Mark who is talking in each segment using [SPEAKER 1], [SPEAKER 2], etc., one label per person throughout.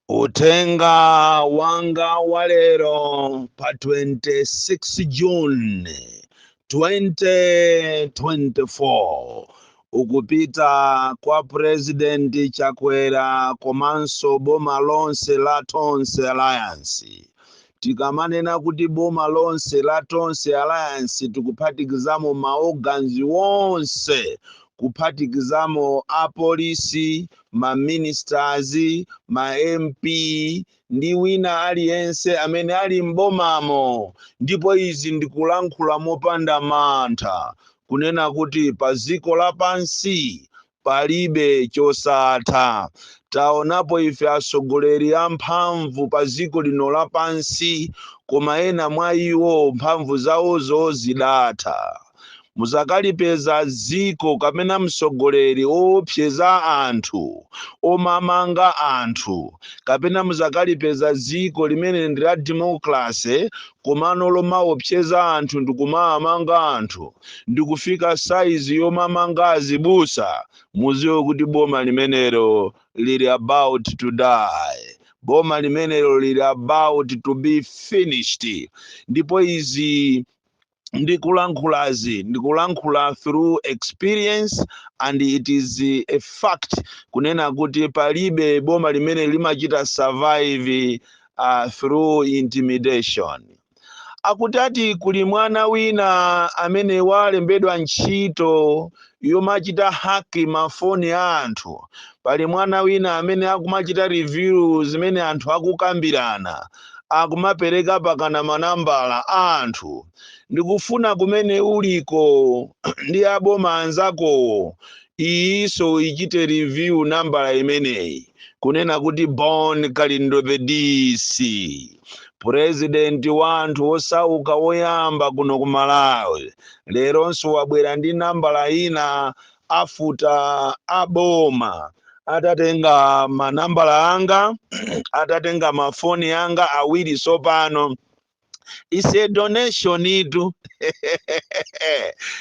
[SPEAKER 1] Uthenga wanga wa lero pa 26 June 2024 ukupita kwa President Chakwera komanso boma lonse la Tonse Alliance Tikamanena kuti boma lonse la Tonse Alliance tikuphatikizamo ma organs onse, kuphatikizamo a police, ma ministers, ma MP ndi wina aliyense amene ali m'bomamo ndipo izi ndikulankhula mopanda mantha kunena kuti pa dziko lapansi Palibe chosatha. Taonapo ife atsogoleri a mphamvu pa dziko lino lapansi, koma ena mwa iwo mphamvu zawozo zidatha. Mudzakalipeza dziko kapena mtsogoleri oopseza anthu, omamanga anthu, kapena mudzakalipeza dziko limene ndi la democracy komano lomaopseza anthu ndikumaamanga anthu ndikufika size yomamanga azibusa muziwe kuti boma limenelo lili about to die boma limenelo lili about to be finished ndipo izi ndikulankhulazi ndikulankhula through experience and it is a fact kunena kuti palibe boma limene limachita survive uh, through intimidation akuti ati kuli mwana wina amene walembedwa ntchito yomachita hack mafoni a anthu pali mwana wina amene akumachita reveal zimene anthu akukambirana akumapereka pakana manambala a anthu ndikufuna kumene uliko ndi a boma anzakowo iyinso ichite reveal nambala imeneyi kunena kuti Bon Kalindo the DC president wa anthu osauka woyamba kuno ku Malawi leronso wabwera ndi nambala ina after a boma atatenga manambala anga atatenga mafoni anga awiri sopano is a donationitu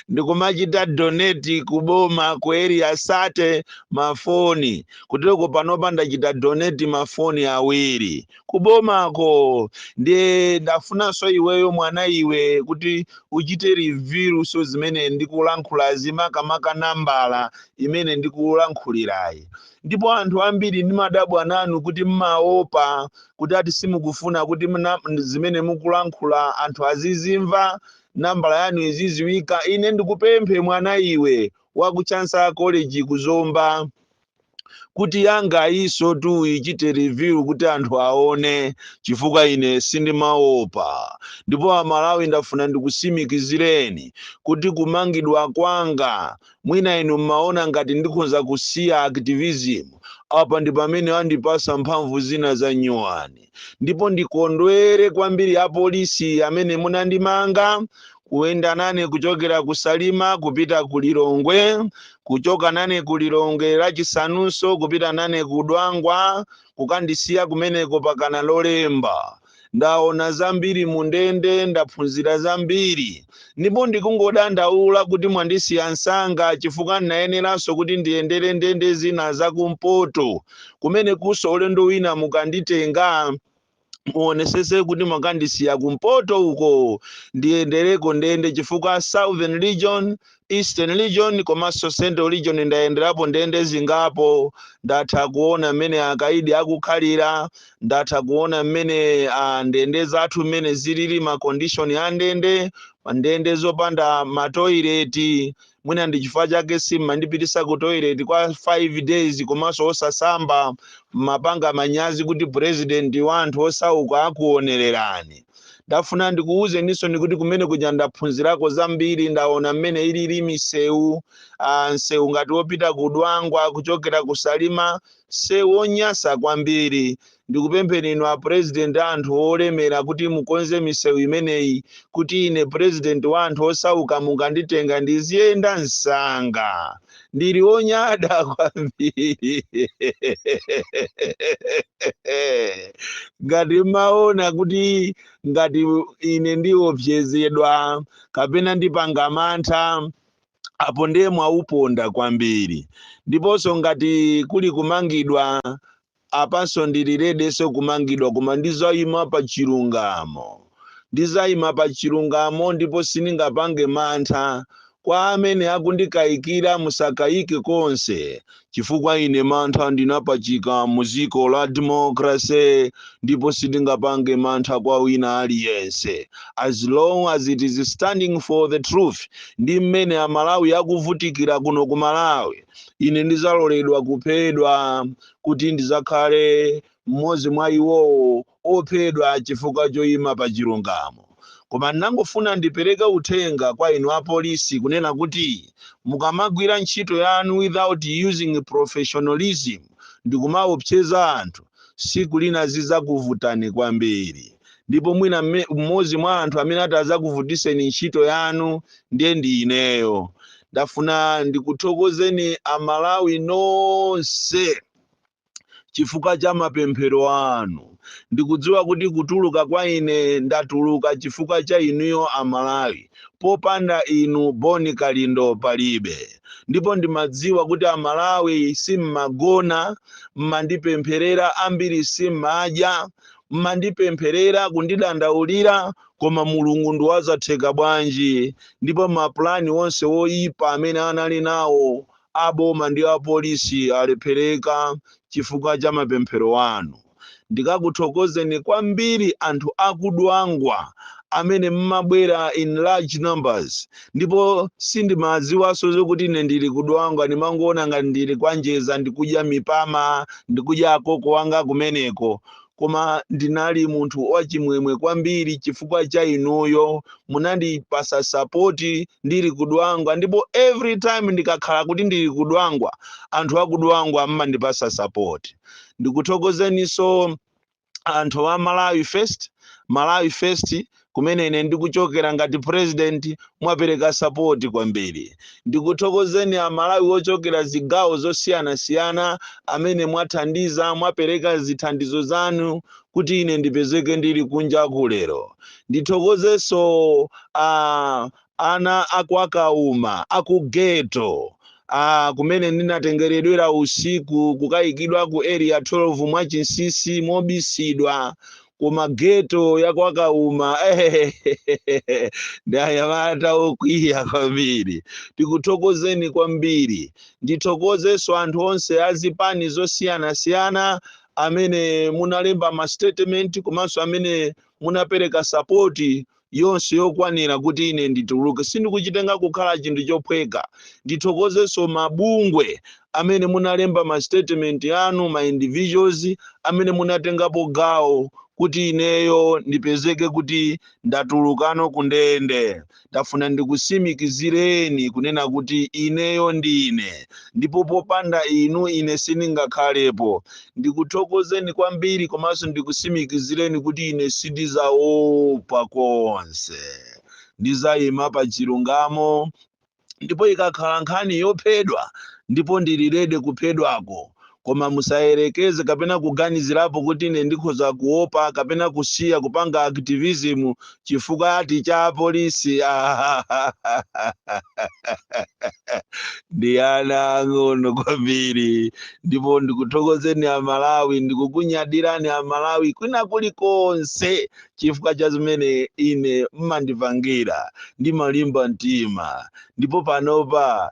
[SPEAKER 1] ndikumachita donate kuboma ku Area 30 mafoni kuteroko panopa ndachita donate mafoni awiri kubomako ndiye ndafunanso iweyo mwana iwe kuti uchite revealnso zimene ndikulankhulazi makamaka nambala imene ndikulankhulirayi ndipo anthu ambiri ndimadabwa nanu kuti mmaopa kuti ati simukufuna kuti mna- m- zimene mukulankhula anthu azizimva nambala yanu iziziwika ine ndikupemphe mwana iwe wa ku chancellor college ku zomba kuti yanga iso tu ichite review kuti anthu aone chifukwa ine sindimaopa ndipo amalawi ndafuna ndikusimikizireni kuti kumangidwa kwanga Mwina inu mmaona ngati ndikhonza kusiya activism, apa ndi pamene andipasa mphamvu zina za nyuwani. Ndipo ndikondwere kwambiri apolisi amene munandimanga, kuyenda nane kuchokera ku Salima kupita ku Lilongwe, kuchoka nane ku Lilongwe lachisanunso kupita nane ku Dwangwa, kukandisiya kumeneko pakana Lolemba. ndaona zambiri mu ndende ndaphunzira zambiri ndipo ndikungodandaula kuti mwandisiya msanga chifukwa ndinayeneranso kuti ndiyendere ndende zina zakumpoto kumeneko kunso ulendo wina mukanditenga muonesese kuti mwakandisiya kumpoto uko ndiyendereko ndende chifukwa southern region Eastern region komanso Central region ndayenderapo ndende zingapo ndatha kuona mmene akaidi akukhalira ndatha kuona mmene ah, ndende zathu mmene zilili ma condition a ndende ndende zopanda matoileti mwina ndi chifukwa chake simmandipitisa ku toilet kwa 5 days komanso osasamba mmapanga manyazi kuti president wa anthu osauka akuonererani ndafuna ndikuwuzeninsoni kuti kumene kuja ndaphunzirako zambiri ndaona mmene ilili misewu ah, msewu ngati wopita ku dwangwa kuchokera ku salima msewu wonyasa kwambiri ndikupempheni inu a president a anthu olemera kuti mukonze misewu imeneyi kuti ine president wa anthu osauka mukanditenga ndiziyenda msanga ndili wonyada kwambiri ngati mmaona kuti ngati ine ndiopsezedwa kapena ndipanga mantha apo ndiye mwauponda kwambiri ndiponso ngati kuli kumangidwa Apanso ndili readyso kumangidwa koma ndizaima pa chilungamo. Ndizaima pa chilungamo ndipo sindingapange mantha. Kwa amene akundikaikira musakaike konse chifukwa ine mantha ndinapachika mu ziko la democracy ndipo sindingapange mantha kwa wina aliyense as long as it is standing for the truth ndi mmene amalawi akuvutikira kuno ku malawi ine ndizaloledwa kuphedwa kuti ndidzakhale mmodzi mwa iwowo ophedwa chifukwa choima pa chilungamo. Koma ndangofuna ndipereke uthenga kwa inu apolisi kunena kuti mukamagwira ntchito yanu without using professionalism ndikumaopseza anthu, siku lina zidzakuvutani kwambiri. ndipo mwina mmodzi mwa anthu amene atazakuvutitseni ntchito yanu ndiye ndi ineyo ndafuna ndikuthokozeni amalawi nonse chifukwa cha mapemphero anu ndikudziwa kuti kutuluka kwa ine ndatuluka chifukwa cha inuyo amalawi popanda inu boni kalindo palibe ndipo ndimadziwa kuti amalawi simmagona mmandipempherera ambiri simmadya mmandipempherera kundidandaulira koma mulungu ndiwazatheka bwanji ndipo mapulani onse woyipa amene anali nawo aboma ndi apolisi alephereka chifukwa cha mapemphero anu ndikakuthokozeni kwambiri anthu akudwangwa amene mmabwera in large numbers ndipo sindimadziwanso zokuti ine ndili kudwangwa ndimangoona ngati ndili kwanjeza ndikudya mipama ndikudya akoko wanga kumeneko koma ndinali munthu wachimwemwe kwambiri chifukwa cha inuyo munandipasa sapoti ndili kudwangwa ndipo every time ndikakhala kuti ndili kudwangwa anthu akudwangwa mmandipasa sapoti ndikuthokozeniso anthu a malawi first malawi first kumene ine ndikuchokera ngati president mwapereka sapoti kwambiri ndikuthokozeni amalawi ochokera zigawo zosiyanasiyana amene mwathandiza mwapereka zithandizo zanu kuti ine ndipezeke ndili kunja kuno lero ndithokozenso a Ana a kwa Kauma, a ku ghetto, a kumene ndinatengeredwera usiku kukaikidwa ku Area 12 mwachinsinsi, mobisidwa, koma ghetto ya kwa Kauma, ehehehe, ndi anyamata okwiya kwambiri. Ndikuthokozeni kwambiri. Ndithokozenso anthu onse a zipani zosiyanasiyana amene munalemba ma statement komanso amene munapereka support yonse yokwanira kuti ine ndituluke. Sindikuchitenga kukhala chinthu chophweka. Ndithokozenso mabungwe amene munalemba ma statement anu, ma individuals amene munatengapo gawo kuti ineyo ndipezeke kuti ndatulukano ku ndende. Ndafuna ndikusimikizireni kunena kuti ineyo ndine, ndipo popanda inu ine sindingakhalepo. Ndikuthokozeni kwambiri komanso ndikusimikizireni kuti ine sindizaopa konse. Ndizayima pa chilungamo ndipo ikakhala nkhani yophedwa ndipo ndili rede kuphedwako. Koma musayerekeze kapena kuganizirapo kuti ine ndikhoza kuopa kapena kusiya kupanga activism chifukwa ati cha apolisi ndi ana ang'ono kwambiri ndipo ndikuthokozeni amalawi ndikukunyadirani amalawi kwina kulikonse chifukwa cha zimene ine mmandipangira ndimalimba mtima ndipo panopa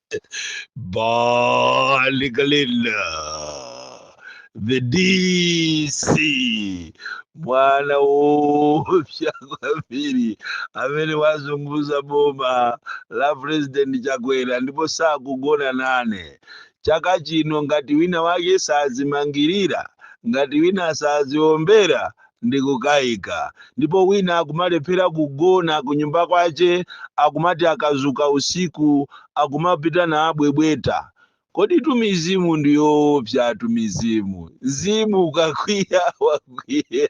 [SPEAKER 1] Bon Kalindo the DC mwana woopsa kwambiri amene wazunguza boma la president chakwera ndipo sakugona nane chaka chino ngati wina wake sazimangirira ngati wina saziombera ndikukaika. Ndipo wina akumalephera kugona kunyumba kwache akumati akazuka usiku akumapita nabwebweta. Koditu mizimu ndiyoopsatu mizimu. Mzimu ukakwiya wakwiya.